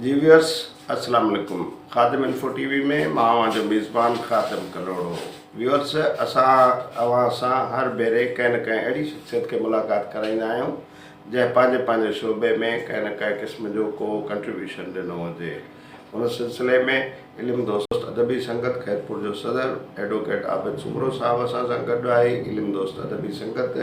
جي ويورس السلام عليڪم خادم انفو ٽي وي ۾ مان اوهان جو ميزبان خادم ڪلهوڙو ويورس اسان اوهان سان هر ڀيري ڪنهن نه ڪنهن اهڙي شخصيت کي ملاقات ڪرائيندا آهيون جنهن پنهنجي پنهنجي شعبي ۾ ڪنهن نه ڪنهن قسم جو ڪو ڪنٽريبيوشن ڏنو هجي ان سلسلي ۾ علم دوست ادبي سنگت خيرپور جو صدر ايڊووڪيٽ عابد سومرو صاحب اسان سان گڏ آهي. علم دوست ادبي سنگت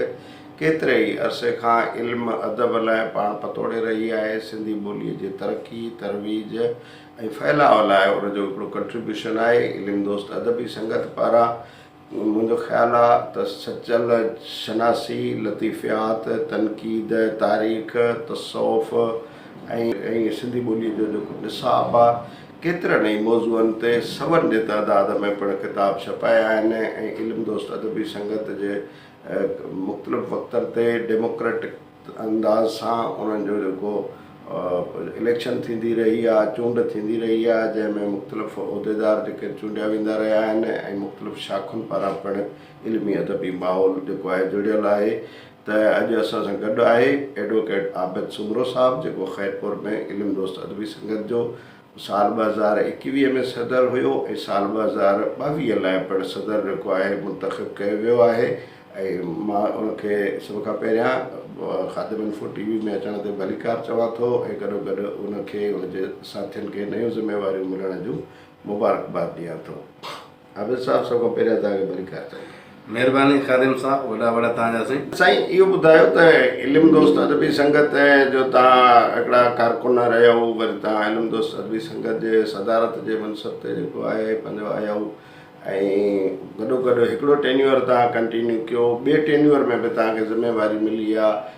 ڪيتري ئي عرصي کان علم ادب لاء پاڻ پتوڙي رهي آهي. سنڌي ٻوليء جي ترقي، ترويج ۽ ڦهلاء لاء ان جو هڪڙو ڪنٽريبيوشن آهي. علم دوست ادبي سنگت پاران منهنجو خيال آ ته سچل شناسي، لطيفيات، تنقيد، تاريخ، تصوف ۽ سنڌي ٻوليء جو جيڪو نصاب آ، ڪيترن ئي موضوعن تي سون جي تعداد ۾ پڻ ڪتاب ڇپايا آهن ۽ علم دوست ادبي سنگت جي مختلف وقتن تي ڊيموڪريٽڪ انداز سان انهن جو جيڪو اليڪشن ٿيندي رهي آهي، چونڊ ٿيندي رهي آهي، جنهن ۾ مختلف عهديدار جيڪي چونڊيا ويندا رهيا آهن ۽ مختلف شاخن پاران پڻ علمي ادبي ماحول جيڪو آهي جڙيل آهي ته اڄ اسان سان گڏ آهي ايڊووڪيٽ عابد سومرو صاحب جيڪو خيرپور ۾ علم دوست ادبي سنگت جو سال ٻه هزار ايڪويهه ۾ صدر هيو ۽ سال ٻه هزار ٻاويهه لاء پڻ صدر جيڪو آهي منتخب ڪيو ويو آهي ۽ مان ان کي سڀ کان پهريان خادم انفو ٽي وي ۾ اچڻ تي ڀليڪار چوان ٿو ۽ گڏوگڏ ان کي ان جي ساٿين کي نيون ذميواريون ملڻ جون مبارڪباد ڏيان ٿو. عابد صاحب سڀ کان پهريان توهان کي برڪات ٿئي. مهرباني خادم صاحب وڏا وڙ توهان جا سائين. سائين اهو ٻڌايو ته علم دوست ادبي سنگت جو توهان هڪڙا ڪارڪن رهيائو وري توهان علم دوست ادبي سنگت جي صدارت جي منصب تي جيڪو آهي پنهنجو آيائو ۽ گڏو گڏ هڪڙو ٽينيوئر توهان ڪنٽينيو ڪيو ٻي ٽينيوئر ۾ به توهان کي ذميواري ملي آ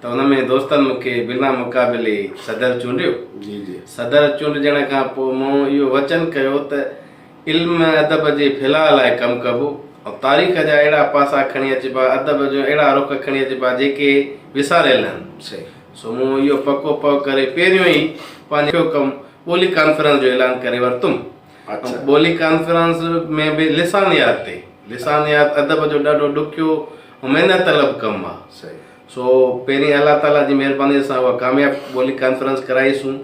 ته ان ۾ دوستن مون کي بنا مقابلي صدر چونڊيو. صدر چونڊجڻ کان پوء مون اهو وچن ڪيو ته علم ادب جي ڦهلاء لاء ڪم ڪبو ۽ تاريخ جا اهڙا پاسا کڻي اچبا، ادب جون اهڙا رخ کڻي اچبا جيڪي وساريل هن. سو مون اهو پڪو پهه ڪري پهريون ئي پنهنجو اهو ڪم ٻولي ڪانفرنس جو اعلان ڪري ورتم ۽ ٻولي ڪانفرنس ۾ به لسانيات تي، لسانيات ادب جو ڏاڍو ڏکيو ۽ محنت طلب ڪم آهي. سو پهرين الله تعاليٰ جي مهربانيء سان اها ڪامياب ٻولي ڪانفرنس ڪرائيسون.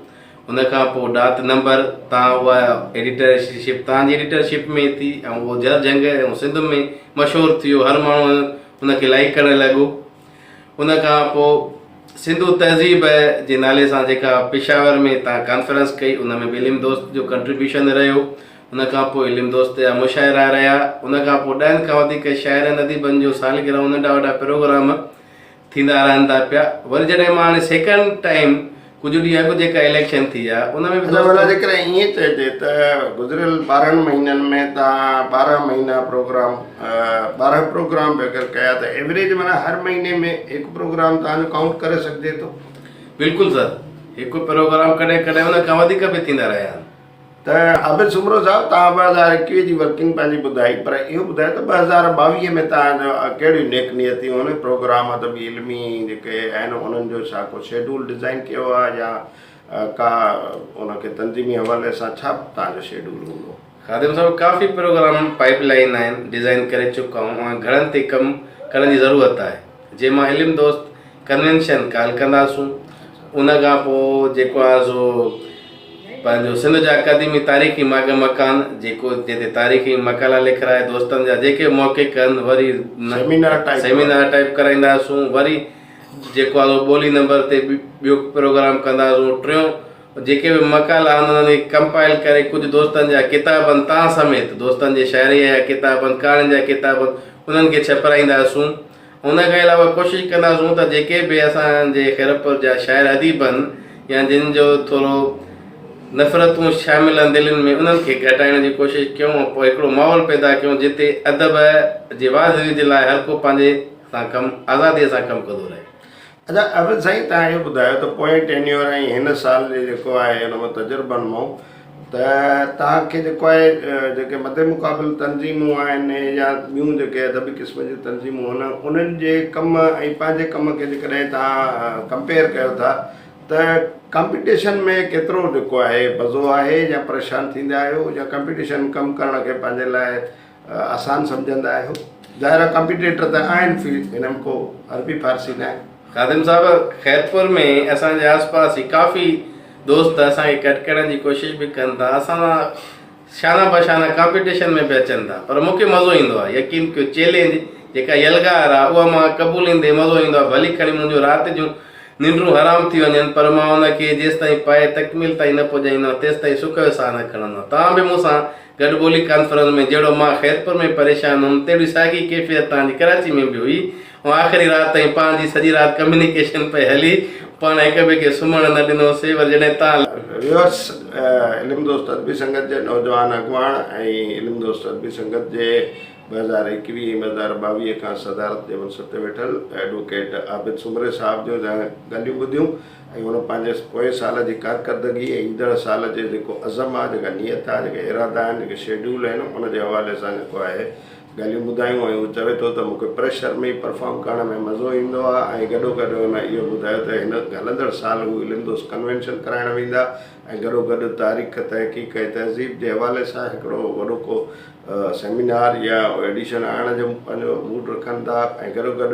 ان کان پوء ڊات نمبر تان اها ايڊيٽرشپ توهان جي ايڊيٽرشپ ۾ ٿي ۽ اهو جهر جهنگ ۽ سنڌ ۾ مشهور ٿيو. هر ماڻهو ان کي لائيڪ ڪرڻ لڳو. ان کان پوء سنڌو تهذيب جي نالي سان جيڪا پشاور ۾ تان ڪانفرنس ڪئي ان ۾ به علم دوست جو ڪنٽريبيوشن رهيو. ان کان پوء علم دوست جا مشاعرا رهيا. ان کان پوء ڏهن کان وڌيڪ شاعرن اديبن جون سالگرهون ننڍا وڏا پروگرام ٿيندا رهن ٿا پيا. وري جڏهن مان هاڻي سيڪنڊ ٽائيم ڪجهه ڏينهن اڳ جيڪا اليڪشن ٿي آ ان ۾ به دوستن. ادا ڀلا جيڪڏهن ائين چئجي ته گذريل ٻارهن مهينن ۾ توهان ٻارهن مهينا پروگرام ٻارهن پروگرام به اگر ڪيا ته ايوريج معنيٰ هر مهيني ۾ هڪ پروگرام توهان جو ڪائونٽ ڪري سگهجي ٿو. بلڪل سر هڪ پروگرام ڪڏهن ڪڏهن ان کان وڌيڪ به ٿيندا رهيا آهن. ته عابد سومرو صاحب توهان ٻه هزار ايڪويهه جي ورڪنگ پنهنجي ٻڌائي پر اهو ٻڌايو ته ٻه هزار ٻاويهه ۾ توهان جا ڪهڙيون نيڪ نيتيون هن پروگرام ادبي علمي جيڪي آهن انهن جو ڇا ڪو شيڊول ڊزائين ڪيو آهي يا ڪا ان کي تنظيمي حوالي سان ڇا توهان جو شيڊول هوندو. خادم صاحب ڪافي پروگرام پائيپ لائين آهن ڊزائين ڪري چڪا آهيون ۽ گهڻن تي ڪم ڪرڻ جي ضرورت آهي جنهن مان علم دوست ڪنوينشن ڪال ڪنداسون ان کان پوء جيڪو آهي سو پنهنجو سنڌ جا قديمي تاريخي ماڳ مڪان جيڪو جتي تاريخي مقالا لکرائي دوستن جا جيڪي موقعي ڪن وري سيمينار ٽائپ ڪرائينداسون وري جيڪو آهي سو ٻولي نمبر تي ٻيو پروگرام ڪنداسون ٽيون جيڪي به مقالا آهن انهن کي ڪمپائل ڪري ڪجهه دوستن جا ڪتاب آهن تان سميت دوستن جي شاعري جا ڪتاب آهن ڪهاڻين جا ڪتاب آهن انهن کي ڇپرائينداسون ان کان علاوه ڪوشش ڪنداسون ته جيڪي به اسان جي خيرپور جا شاعر اديب هن يا جن جو ٿورو نفرتون شامل هن دلين ۾ انهن کي گهٽائڻ جي ڪوشش ڪيون ۽ پوء هڪڙو ماحول پيدا ڪيون جتي ادب جي واڌ ويجهه لاء هرڪو پنهنجي سان ڪم آزادي سان ڪم ڪندو رهي. ادا عابد سائين تهان اهو ٻڌايو ته پوئين ٽينيور ۽ هن سال جي جيڪو آهي ان مان تجربن مون ته تهان کي جيڪو آهي جيڪي مد مقابل تنظيمون آهن يا ٻيون جيڪي ادبي قسم جون تنظيمون ان انهن جي ڪم ۽ پنهنجي ڪم کي جيڪڏهن تهان ڪمپيئر ڪيو ٿا ته ڪمپيٽيشن ۾ ڪيترو جيڪو آهي مزو آهي يا پريشان ٿيندا آهيو يا ڪمپيٽيشن ڪم ڪرڻ کي پنهنجي لاء آسان سمجهندا آهيو ظاهر آهي ڪمپيٽيٽر ته آهن في هن ۾ ڪو عربي فارسي ناهي. خادم صاحب خيرپور ۾ اسان جي آس پاس هي ڪافي دوست اسان کي ڪٽڪڻ جي ڪوشش به ڪن ٿا اسان سان شانه بشانه ڪمپيٽيشن ۾ به اچن ٿا پر مون کي مزو ايندو آهي يقين ڪيو چيلينج جيڪا يلغار آهي اها مان قبوليندي مزو ايندو آهي ڀلي کڻي منهنجون رات جون ننڊون حرام ٿي وڃن پر مان ان کي جيستائين پايي تڪميل تائين نه پڄائيندو آهيان تيستائين سک جو ساهه نه کڻندو آهيان توهان به مون سان گڏ ٻولي ڪانفرنس ۾ جهڙو مان خيرپور ۾ پريشان هئم تهڙي ساڳي ڪيفيت توهان جي ڪراچي ۾ به هئي ۽ آخري رات تائين پاڻ جي سڄي رات ڪميونيڪيشن پئي هلي پاڻ هڪ ٻئي کي سمهڻ نه ڏنو سي ور جڏهن توهان ويورس علم دوست ادبي سنگت جي نوجوان اڳواڻ ۽ علم دوست ادبي سنگت جي ٻه هزار ايڪويهه ۽ ٻه هزار ٻاويهه کان صدارت جي منصب تي ويٺل ايڊووڪيٽ عابد سومري صاحب جون ڳالهيون ٻڌيون ۽ هن پنهنجي پوئين سال جي ڪارڪردگي ۽ ايندڙ سال جي جيڪو عزم آهي، جيڪا نيت آهي، جيڪا ارادا آهن، جيڪي شيڊيول آهن، ان جي حوالي سان جيڪو آهي ڳالهيون ٻڌايون ۽ هو چوي ٿو ته مون کي پريشر ۾ ئي پرفارم ڪرڻ ۾ مزو ايندو آهي ۽ گڏوگڏ هن اهو ٻڌايو ته هن هلندڙ سال هو علم دوست ڪنوينشن ڪرائڻ ويندا ۽ گڏوگڏ تاريخ، تحقيق ۽ تهذيب جي حوالي سان هڪڙو وڏو ڪو سيمينار يا ايڊيشن آڻڻ جو پنهنجو موڊ رکن ٿا ۽ گڏوگڏ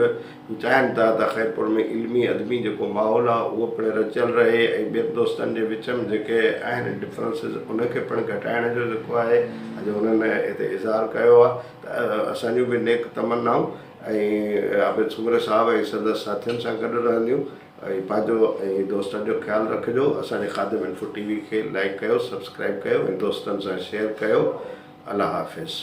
هو چاهين ٿا ته خيرپور ۾ علمي ادبي جيڪو ماحول آهي اهو پڻ رچيل رهي ۽ ٻين دوستن جي وچ ۾ جيڪي آهن ڊفرنسز ان کي پڻ گهٽائڻ جو جيڪو آهي اڄ هنن هتي اظهار ڪيو آهي ته اسان جون به نيڪ تمنائون ۽ عابد سومري صاحب ۽ سندس ساٿين سان گڏ رهنديون ۽ پنهنجو ۽ دوستن جو خيال رکجو اسان جي خادم انفو ٽي وي کي لائيڪ ڪيو سبسڪرائيب ڪيو ۽ دوستن سان شيئر ڪيو الله حافظ.